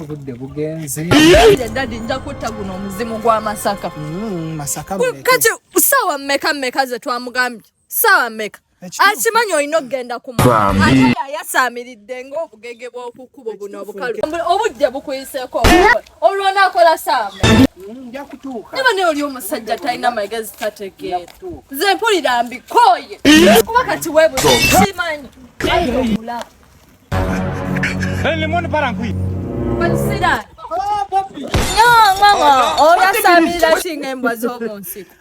obudde bugenze dadi nja kutta guno omuzimu gwa masaka mm, masaka kati saawa mmeka mmeka ze twamugambye saawa mmeka akimanyi olina okugenda kumayasamiridde ngaobugege bwokukubo buno obukalu obudde bukuyiseeko Olwo onaakola saama. Mm, nja kutuuka. Naba naye oli omusajja talina magezi tategeera. Nze mpulira mbikooye. Kuba kati weebuza simanyi. Lemon parangui. Pansira. Oh, papi. No, mama. Oh, Oyasamira singa embwa z'omu nsiko.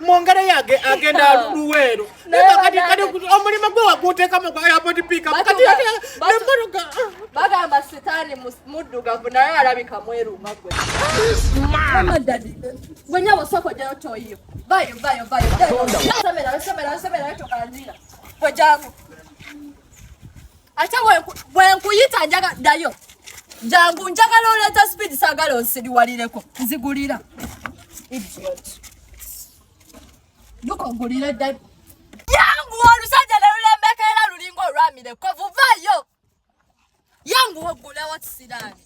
mwongere yage agenda luweero omulimu gwe waguteekamu gwa airport pickup kati nemmotoka bagamba sitaani muddugavu naye alabika mweruma gwe gwe nyabo sokojayo toyiyo vayo vayo vayo semera semera semera tokanjira gwe jangu ate bwenkuyita njaga dayo jangu njagala oleeta speed sagala onsiriwalireko nzigulira lukogulire dda yangu olusajja nelulembeka era lulinga olwamire kovuvayo yangu ogulewo kisiraani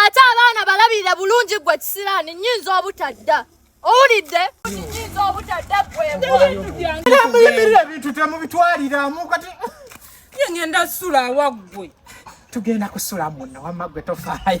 ate abaana balabirira bulungi gwe kisiraani nyinza obutadda owulidde muyimirira ebintu temubitwaliramu kati ngenda sula awaggwe tugenda kusula muno wamma gwe tofaayo